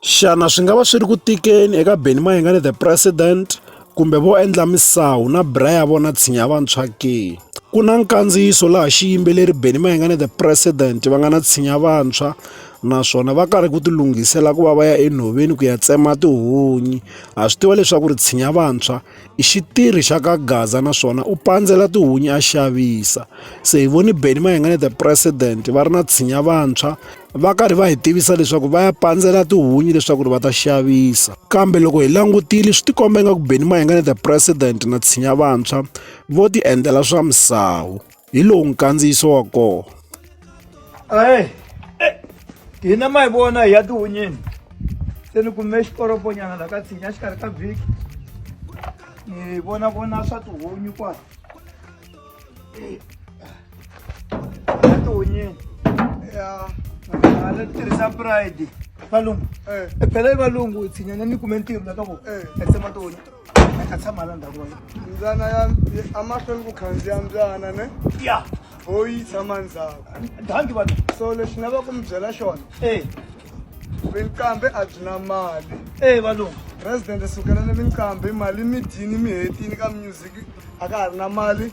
Xana swi nga va swi ri ku tikeni eka Benny Mayengani the president kumbe vo endla misawu na bra ya vona tshinya vantshwa ke? Ku na nkandziyiso laha xiyimbeleri Benny Mayengani the president va nga na tshinya vantshwa naswona va karhi ku tilunghisela ku va va ya enhoveni ku ya tsema tihunyi ha swi tiva leswaku ri tshinya vantshwa. i xitirhi xa ka gaza naswona u pandzela tihunyi a xavisa se hi voni beni mayengane the president va ri na tshinya vantshwa va karhi va hi tivisa leswaku va ya pandzela tihunyi leswaku ri va ta xavisa kambe loko hi langutile swi tikomba ingaku beni mayengane the president na tshinya vantshwa vo ti endlela swa misawu hi lowu nkandziyiso wa kona ayi eh, hina ma hi vona hi ya tihunyini se ni kume xikoroponyana la ka tshinya xikarhi ka vhiki ni vona vona swa tihunyi kwala eh, ya tihunyini ya hala tirhisa pride valungu eh. phela i valungu tshinyana ni kume ntirho la ka vona a tsema tihunya a tshama la ndhaku wena mbyana ya amahlweni ku khandziya mbyana ne ya ho yi tshama ndzhaku dangi vanhu so lexi nga va ku mi byela xona e vinkambe a byi na mali e valungu president sukelani vinkambe mali mi dyini mi hetini ka music a ka ha ri na mali